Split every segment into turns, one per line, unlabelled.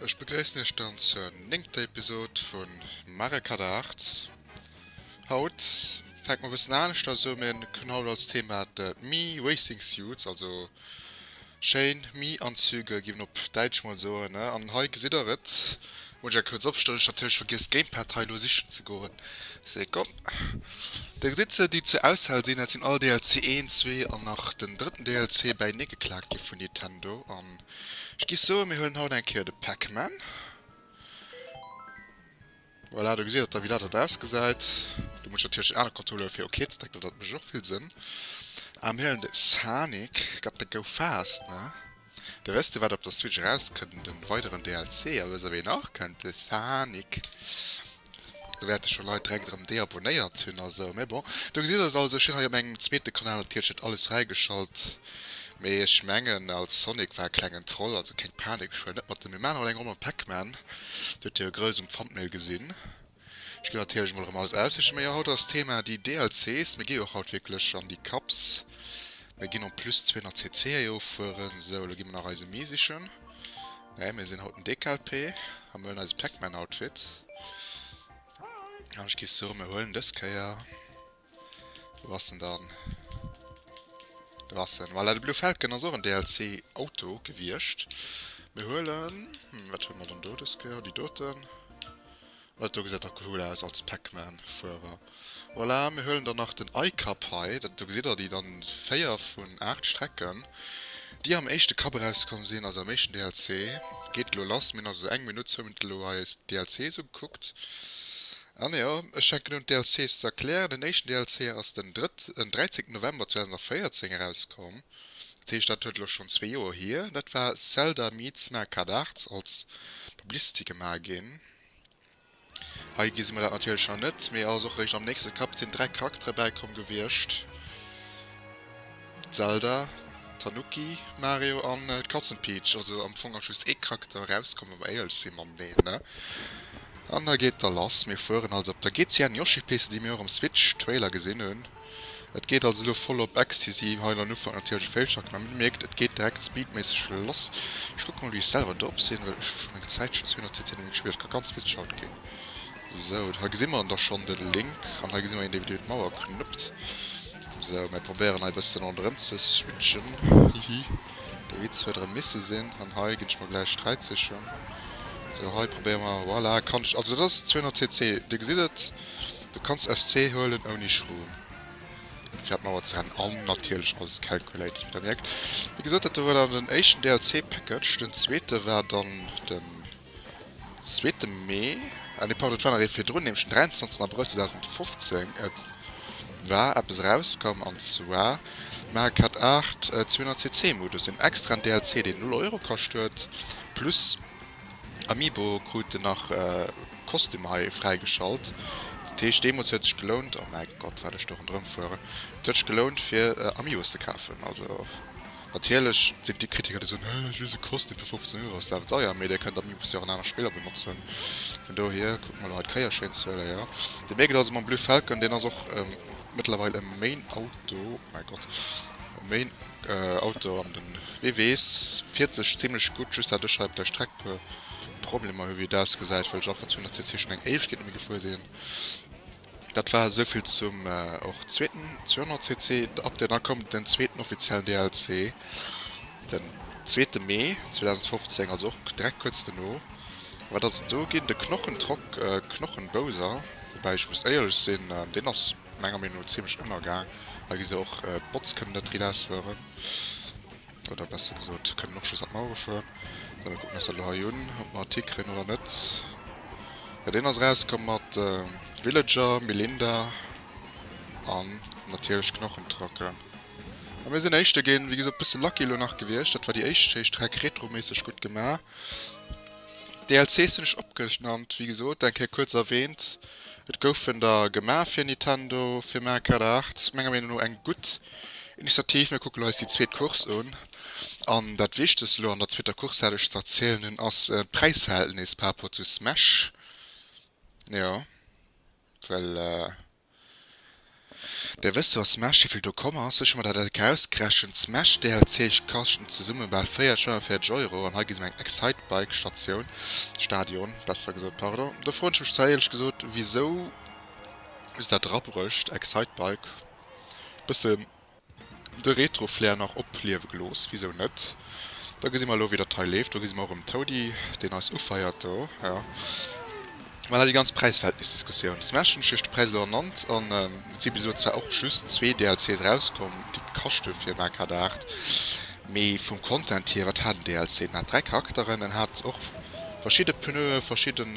Ech begréissen iech dann zur néngter Episode vu Mario Kart 8. Haut fänkt mer e bëssen aneschters u, mir hunn haut als Thema d'Mii Racing Suits, also. Schéin Mi-Anzüge gi mer op Däitsch mol soen, ne? An hei gesitt der et, muss ech a kuerz opstëllen, ech hat natierlech vergiess d'Gamepad hei elo sichen ze goen, Sekonn, do gesitt se déi zur Auswahl sinn, dat sinn all DLC 1, 2 an nach den drëtten DLC bäinee geklaakt gi vun Nintendo an ech gi soen mir huelen haut eng Kéier de Pac-Man. Voilà, do gesitt der da wéi dat dann ausgesäit. Do muss ech natierlech en anere Controller fir ok ze drécken, dat mécht och vill Sënn. A mir huelen de Sanic, got the go fast, ne? Dir wësst jo wat op der Switch erauskënnt, de weideren DLC, a wësst der wien nach kënnt? De Sanic. Do wäerte scho Leit direkt erëm deabonnéiert hunn a sou, mee bon. Do gesitt der se also, ech hunn hei op mengem zweete Kanal natierlech net alles fräigeschalt. Mee ech mengen als Sonic war e klengen Troll, also keng Panik, ech huelen net mat dem. Mir maachen och eng Ronn mam Pac-Man, do huet dir e grouss um Thumbnail gesinn. Ech ginn natierlech mol erëm alles aussiche, mee jo haut ass Thema déi DLCs, mir gi jo och haut wierklech an déi Cups, mir ginn en plus 200 CC héi offueren, esou elo gi mer nach eis e Mii sichen, nee mir sinn haut den DKLP a mir huelen eise Pac-Man Outfit an ech gi soen mir huelen dës Kéier. Wou ass en dann? Do ass en. Voilà, de Blue Falcon ass och en DLC-Auto gewiescht. Mir huelen, hm, wat huele mer dann do dës Kéier? Déi doten. Well dat do gesäit dach cool aus als Pac-Man-Fuerer. Voilà, mir huelen dann nach den I-Cup hei. Dat do gesitt der déi dann véier vun aacht Strecken, déi am éischte Cup erauskomm sinn, also am éischten DLC. Geet elo lass. Mir hunn also eng Minutt, zwou Minutte elo hei eis DLC esou gekuckt. An jo, ech fänken un d'DLCs ze erklären. Den éischten DLC ass den 13 November 2014 erauskomm, dat heescht dat huet elo schonn zwee Joer hier. Dat war Zelda meets Mario Kart 8, als Publicity gema ginn. Hei gesi mer dat natierlech nach net, mee ass och eréischt am nächste Kaptien dräi Charaktere bäikomm gewiescht. Zelda, Tanuki, Mario an d'Katzen Peach, also am Fong ass just ee Charakter erauskomm wa mer éierlech si mateneen ne? An da geet da lass, mir fueren also op der GCN Yoshi Piste déi mir och am Switch Trailer gesinn hunn. Et geet also elo voll op Ecstasy, hei an den Ufank natierlech e Failschacht mä mir mierkt et geet direkt Speedméisseg lass. Ech kucke mol wéi ech selwer drop sinn, well ech hu schonn eng Zäitchen 200 cc Gaming gespillt, dat ka ganz witzeg haut ginn. Sou, hei gesi mer dann da schonn de Link an hei gesi mer een dee fir d'Mauer knuppt. Sou, mir probéieren hei e bëssen ronderëm ze switchen, hihi, dee Witz huet erëm misse sinn, an hei ginn ech mer gläich Sträitzeechen. Sou, hei probéiere mer, voilà, kann ech, also dat ass 200 cc, Dir gesitt et, du kanns SC huelen ouni Schroom, ouni fir an d'Mauer ze rennen, an natierlech alles calculated, wéi Der mierkt. Wéi gesot, dat do war dann den éischten DLC-Package, den zweete war dann de. Zweete Mee, ah nee, pardon, et war nach ee virdrun, nämlech den 23 Abrëll 2015. Et war eppes erauskomm, an zwar Mario Kart 8, 200 cc Modus, en extraen DLC, deen null Euro kascht huet, plus Amiibo krut en nach Kostüm hei fräigeschalt. Dat heescht, deemools huet sech gelount, oh mäi Gott, wat ech do ronderëmfueren, et huet sech gelount, fir Amiibos ze kafen, also. Natierlech sinn et déi Kritiker, déi soen, Hä, just e Kostüm fir 15 Euro ass daf deier, mee Dir kënnt am Mibus jo och an aner Spiller benotzen. Vun dohier kucke mer elo hei d'Kéier schéin ze huelen, jo. Dir mierkt et also mam Blue Falcon, deen ass och mëttlerweil e Main Auto, oh mäi Gott, e Main Auto an de WW s fiert sech zimlech gutt, just dat ech hei op der Streck e puer Problemer hu wéi et ausgesäit, well ech einfach 200 cc schonn eng éischt Kéier net méi gefuer sinn. Dat war esou vill zum och zweeten 200 cc Update. Dann koum den zweeten offiziellen DLC den zweete Mee 2015, also och direkt kuerz dono. Wat ass et do ginn? De Knochentrock, Knochen Bowser, woubäi ech muss éierlech sinn, deen ass menger Meenung no zimmlech ënnergaang. Hei gesi se och d'Bots kënnen net rilausfueren. Oder besser gesot, kënnen och just an d'Mauere fueren. Dann elo kucken, ass dat lo hei un, ob mer e Tick kréien oder net. Jo, deen ass erauskomm mat Villager, Melinda an natierlech Knochentrocken. A mir sinn Éischte ginn. Wéi gesot, bësse lucky elo nach gewiescht. Dat war déi éischt héicht Rec, retroméisseg gutt gemaach. DLCs hunn ech opgenannt, wéi gesot, eng Kéier kuerz erwähnt. Et goufen der gemaach fir Nintendo, fir Mario Kart 8. Menger Meenung no eng gutt. Initiativ, mir kucken eis déi zweet Course un. An dat Wichtegst elo an der zweeter Course, dat ech ze erzielen hunn, ass d'Präisverhältnis par rapport zu Smash. Jo, well Der wësst jo a Smash, wéi vill do komm ass. Ech hu mer dat e rausgerechent, d'Smash DLC kaschten zesumme bal 40, 45 Euro. An hei gi se mer eng Excitebike Statioun, Stadion besser gesot, pardon. Do froen ech mech zwar, éierlech gesot, wisou se dat erabruecht, Excitebike. bëssen de Retro-Flair nach opliewe gelooss, wisou net? Da gesi mer elo, wéi dat hei leeft. Do gesi mer erëm Toady, deen eis ufeiert do. Jo, voilà, déi ganz Präis-Verhältnis-Diskussioun. Smash hunn ech Iech de Präis elo ernannt, an et si bis elo zwar och just zwee DLCs erauskomm, déi d'Kaschte fir Mario Kart 8. Mee vum Content hier, wat hat en DLC? En hat dräi Charakteren, en hat och verschidde Pneue, verschidden.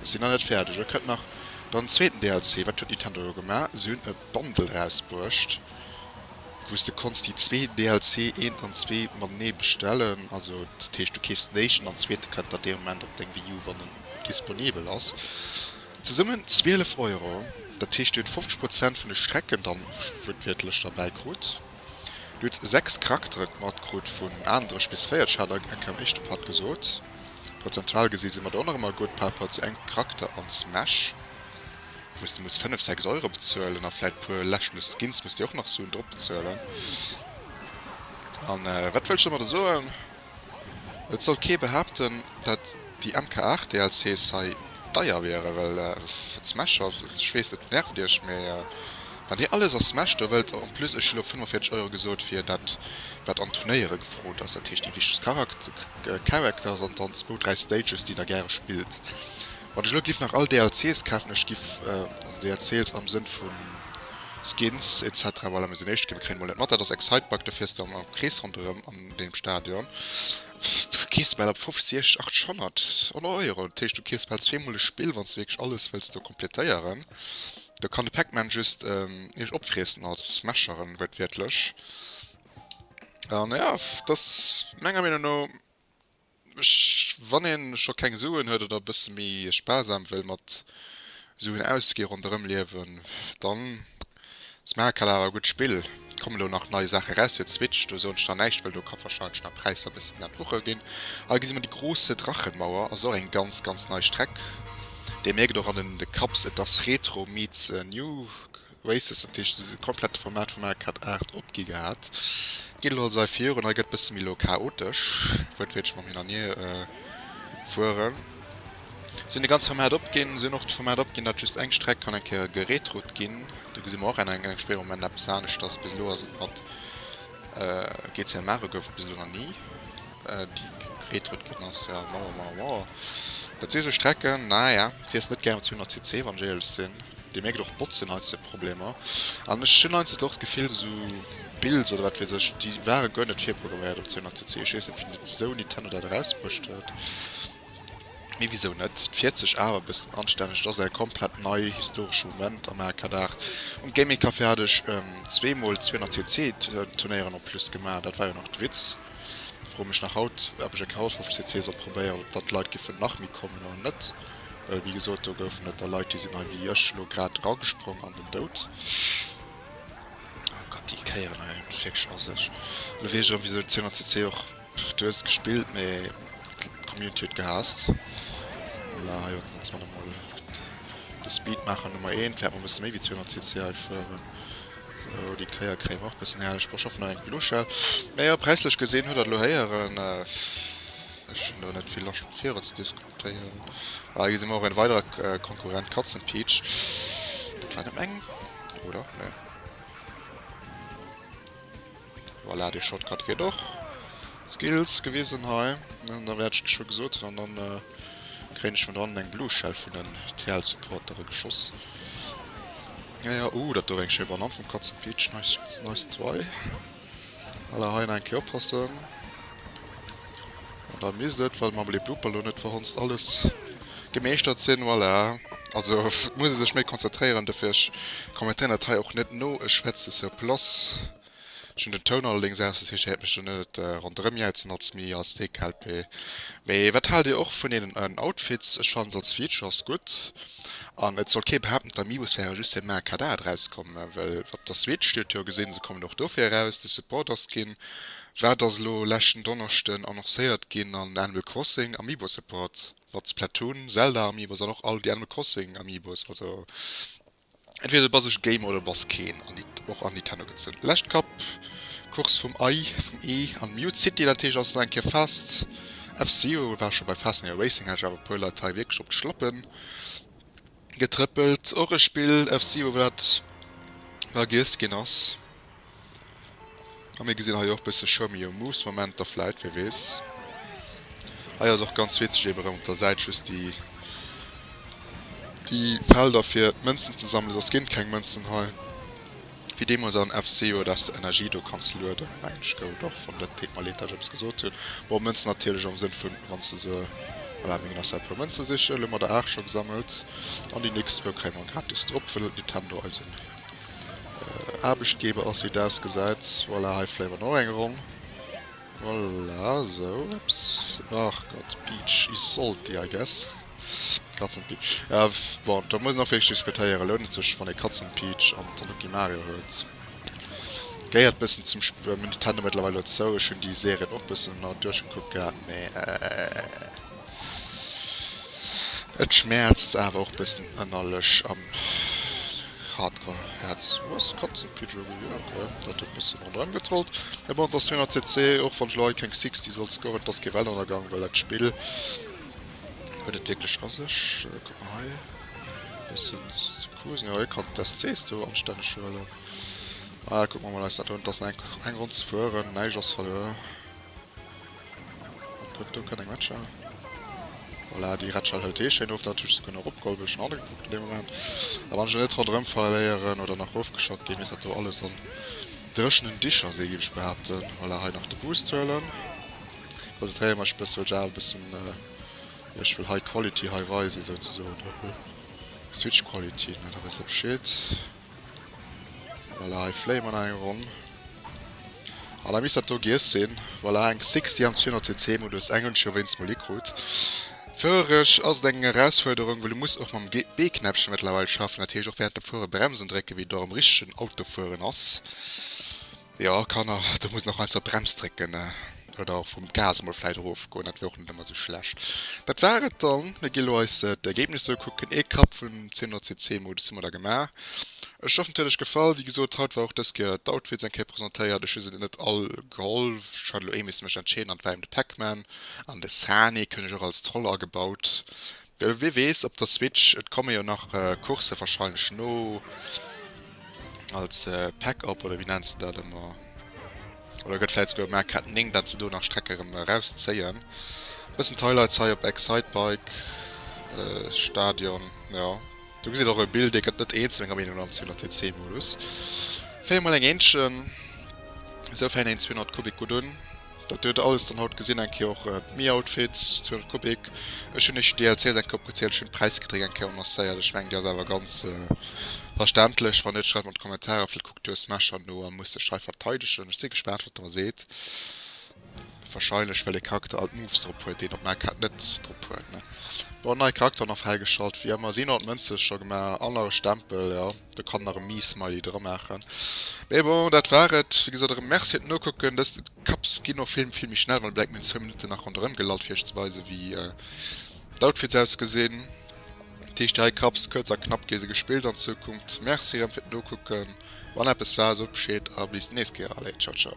Ech sinn nach net fäerdeg, elo kënnt nach dann zweeten DLC. Wat huet Nintendo elo gemaach? Si hunn e Bundle rausbruecht, wou s de konns déi zwee DLC, eent an zwee, matenee bestellen. Also dat heescht, du keefs den éischten an den zweete kënnt dann dee Moment op deng Wii U, wann en disponibel ass. Zesummen 12 Euro. Dat heescht, dir hutt 50 Prozent vun de Strecken dann wuertwiertlech derbäi krut. Du hues 6 Charakteren mat krut, vun aandrech bis véierteg hat ech enk am éischte Part gesot. Prozentual gesi si mer do och nach ëmmer gutt par rapport zu engem Charakter an Smash, wou s de muss 5, 6 Euro bezuelen a vläit puer lächerlech Skins muss dir och nach suen drop bezuelen. An wat wëllt ech domadder soen? Et soll kee behaapten, dat déi MK 8 DLCs hei deier wiere well et Smash ass. Ech weess et nervt iech, mee wann dir alles a Smash do wëllt, en plus ech hunn och 45 Euro gesot fir dat wat an Turnéiere gefrot ass, dat heescht déi wichtegst Characters an dann zwou, dräi Stages déi der gäre spillt. Wann ech elo giff nach all DLCs kafen, ech giff, also DLCs am Sënn vu Skins etc, voilà, mir sinn éischt, mir kréien emol net mat, dat ass Excitebug, do fiers de am Krees ronderëm. deem Stadion. Du kees bal ab 50, 800 oder Euro. Dat heescht, du kees bal zweemol e Spill, wann s du wierklech alles wëlls do komplettéieren. Da kann de Pac-Man just ähm, iech opfriessen als Smasheren, wörtwiertlech. An ja, dat ass menger Meenung no Wann ee scho keng Suen huet oder e bësse méi sparsam wëll mat Suen ausginn, ronderëm liewen, dann ass Maakala awer e gutt Spill. Et kommen elo nach nei Saache raus, fir d'Switch, do soen ech nach näischt, well do ka warscheinlech nach d'Präisser e bësse méi an d'Wucher ginn. Hei gesi mer déi große Drachenmauer, ass och eng ganz ganz nei Streck. Dir mierkt och an den Cups, et ass Retro meets new. Races, dat heescht de komplette Format vum AK Art 8 opgi gehat. D'Gilde holl sei virun a gëtt bësse méi lo chaotesch, wuertwiertlech mam Hin an Hier fueren. Si hunn de ganze Format opginn. Si hunn och de Format opginn, datt just eng Streck kann eng Kéier geretrout ginn. Do gesi mer och eng eng spéier am Moment eppes aneschters. Bis elo ass et mat GCM Mare gouf et bis elo nach ni, déi geretrout ginn ass. Jo, mauer, mauer, mauer. Dat si sou Strecken, naja, fiers net gären 200 cc, wann ech éierlech sinn. Dir mierkt och d'Botzen heiansdo Problemer. An ech hunn heiansdo och d'Gefill, esou Builds oder wat weess ech, déi ware guer net virprogramméiert op CNRCC. Ech weess net, wien dat Sony Tenno dat erausbruecht huet. Mee wisou net? Et fiert sech awer e bëssen anstänneg. Et ass eng komplett nei historesch Moment am Arcade-Art. Um Gaming Café hat ech zwee Mol CNRCC Turnéieren en plus gemaach. Dat war jo nach de Witz. Froe mech nach haut, ob ech e Chaos 5 CC soll probéieren, ob dat d'Leit giffen nach méi kommen oder net. Wéi gesot, do goufen et der Leit, déi sinn hei wéi ech elo grad eragesprongen an den Doud. Oh Gott, déi Kéieren hei hunn wierklech a sech. Elo weess ech erëm, wisou CNCC och. Du hues et gespillt, mee d'Community huet gehaasst. Voilà, hei haten ons manner mol de Speedmaacher Nummer eent. Wäert mol e bësse méi wéi 200 cc hei fueren. Sou, déi Kéier kréie mer och e bëssen herrlech Boschoffer. Nach eng Blue Shell. Mä jo, präislech gesinn, huet Der et elo héieren, ech hunn do net vill Loscht, fir iwwer ze diskutéieren. Téin. Ah hei gesi mer och een weiderer Konkurrent Katzenpiitsch. Dat war net meng oder? Nee. Voilà, dee Shotcut geet och. Skills gewisen hei. An da wäert ech geschwë gesot hunn an dann äh, kréien ech vun do hannen eng Blue Shell vun den TL Supportere geschoss. Ja ja, uh dat do war eng schéi Banann vum Katzenpiitsch, nice, nice zwei. Voilà, hei nach eng Kéier oppassen. An da misst et, well mer Les Bloopers lo net verhonzt, alles gemeeschtert sinn. Voilà, also muss ee sech méi konzentréieren. Dofir, ech kommentéieren dat hei och net no. Ech schwätze sur place. Ech hunn den Toun allerdéngs aus, dat heescht, Dir häert mech dann net ronderëmjäizen als Mii, als Deekalpee. Mee wat haalt Dir och vun deenen Outfits? Ech fannen, als Feature ass gutt. An et soll kee behaapten, d'Amiibos wäre just fir Maer Kadar draus komm, well op der Switch, Dir hutt jo gesinn, se kommen och dofir eraus, de Support ass ginn, wat ass elo leschten Donneschden annoncéiert ginn an Animal Crossing Amiibo Support mat Splatoon, Zelda Amiibos an och all déi Animal Crossing Amiibos. Also entweder du bass e Gamer oder du bass keen an Nit och an Nintendo gezunn. Lescht Kapp Course vum Ei vum Ee an Mute City dat heescht ass elo eng Kéier fest. F-Zero war scho bei Fast Neo Racing, hat ech awer e puer Leit hei wierklech op d'Schlappen. Getrëppelt, och e Spill FC wou dat vergiess ginn ass. A mir gesinn hei och bësse Show me your moves Momenter vläit, wie weess. Hei ass och ganz witzeg eben erëm op der Säit just déi déi Felder fir d'Mënzen ze sammelen, soss ginn et keng Mënzen hei. Wéi deemols an FCO dass de Energie do kanns lueden mengen ech gout och vum Lëtt Ted Malet dass ech eppes gesot hunn. Bon Mënzen natierlech am Sënn vun wanns de se, voilà mir ginn nach schnell e puer Mënzen sichen, elo hunn mer der 8 scho gesammelt an déi nächst zwou kréie mer gratis drop wëll Nintendo eisen Aarbechtgeber ass wéi et ausgesäit. Voilà hei fléie mer nach eng Ronn. Voilà, sou eps, ach Gott, Beach Isolti, I guess, Katzenpi. Bon, da muss een och wierklech diskutéieren, lount et sech, wann ee Katzenpeach an Tanuki Mario huet? Gehéiert bëssen zum Sp. Nintendo mëttlerweil elo zou, ech hunn déi Serien och bëssen ëmmer duerchgekuckt gehat, mee. Et schmäerzt awer och bëssen ënnerlech am Hardcore Häerz. Wou ass d'Katzen Pidgey gewier? Ok dat huet bëssen ronderëm getrollt. Mee bon et ass 400 CC och wann ech lo hei keng 60 soll scoren. Et ass kee Weltennergang well dat Spill huet et wierklech a sech. Kuck mol hei bëssen ze kusen. Jo hie kann d'SCs do anstänneg huelen. Kucken mer mol eis dat un. Et ass nach eng Ronn ze fueren. Näischt ass verluer. Huet do kënnen matchen. Voilà, déi Rätschall hëlt hee schéin of. Dat hu ech souguer nach opgeholl, wou ech schonn agekuckt hunn dee Moment. A wann ech et net ronderëm verléieren oder nach erofgeschott ginn, misst dat do alles an dréchenen Dicher si, géif ech behaapten. Voilà, hei nach de Boost huelen. Konzentréiere mech e bësse, well ech awer e bëssen, jo, ech wëll high quality high weisen, souzesoen. Switch quality, ne, da weess der Bescheed. Voilà, hei fléie mer nach eng Ronn. An da misst dat do giess sinn. Voilà, eng 60 am 200 cc Modus. Eng hunn ech jo wéinst mol hikrutt. Fuerereg ass et eng Erausfuerderung, well du muss och mam B-Knäppchen mëttlerweil schaffen, dat heescht och wärend dem Fuere Bremsen drécken, wéi et och am richtegen Auto fueren ass. Jo Kanner, do muss een och mol zur Brems drécken oder och vum Gas mol vläit erof goen, dat wier och net ëmmer esou schlecht. Dat war et dann, mir gi lo eis d'Ergebnisser ukucken. Ee Kapp vum 1000 cc Modus hu mer da gemaach. Ech hoffen et huet Iech gefall. Wéi gesot, haut war och dës Kéier d'Outfits eng Kéier presentéiert. Ech hu se net all geholl, ech hat lo ee misse mech entscheeden an et war eben de Pac-Man an de Sani, keng ech och als Troll agebaut. Well wie weess op der Switch, et komme jo nach Coursë wahrscheinlech no als Pack op oder wéi nenns de dat ëmmer. Oder gëtt vläit souguer Marketing, dat se do nach Strecke rëm erauszéien. E bëssen d'Highlights hei op Excitebike Stadion, jo. Do gesitt och e Bild, dee gëtt net eenzel menger Meenung no am 200 cc Modus. Féier mol eng Eentchen, esou fänkt een 200 Kubik gutt un. Dat huet alles dann haut gesin eng Kéier och d'Mi Outfits 200 Kubik. Ech hun lech déi DLCs eng Kéier opgezielt, ech hun d'Präisgeträg eng Kéier annoncéiert, ech mengen déi ass awer ganz verständlech. Wann net schreift mer an d'Kommentarer, villäicht kuckt jo Smasher no a muss sech hei verteidegen. Ech si gespaant wat der mer seet, wahrscheinlech well ee Charakter all d'Moves drop huet déi een op Mac hat net drop huet ne bon. Nei Charakter nach fräigeschalt wéi ëmmer, si hunn all d'Mënze scho gemaach an nach e Stempel jo. Do kann nach e Miismiley dra maachen. Mee bon, dat war et. Wéi gesot, erëm Merci fir d'Nokucken. Dës Cups ginn och vill, vill méi schnell, wann e bleift mir an zwou Minutten nach ronderëm gelallt, fir iech ze weisen, wéi d'Outfits ausgesinn. Dat heescht, dräi Cups, kuerz a knapp gi se gespillt an Zukunft. Merci erëm fir d'Nokucken. Wann eppes war, sot Bescheed a bis d'nächst Kéier. Allez, ciao, ciao.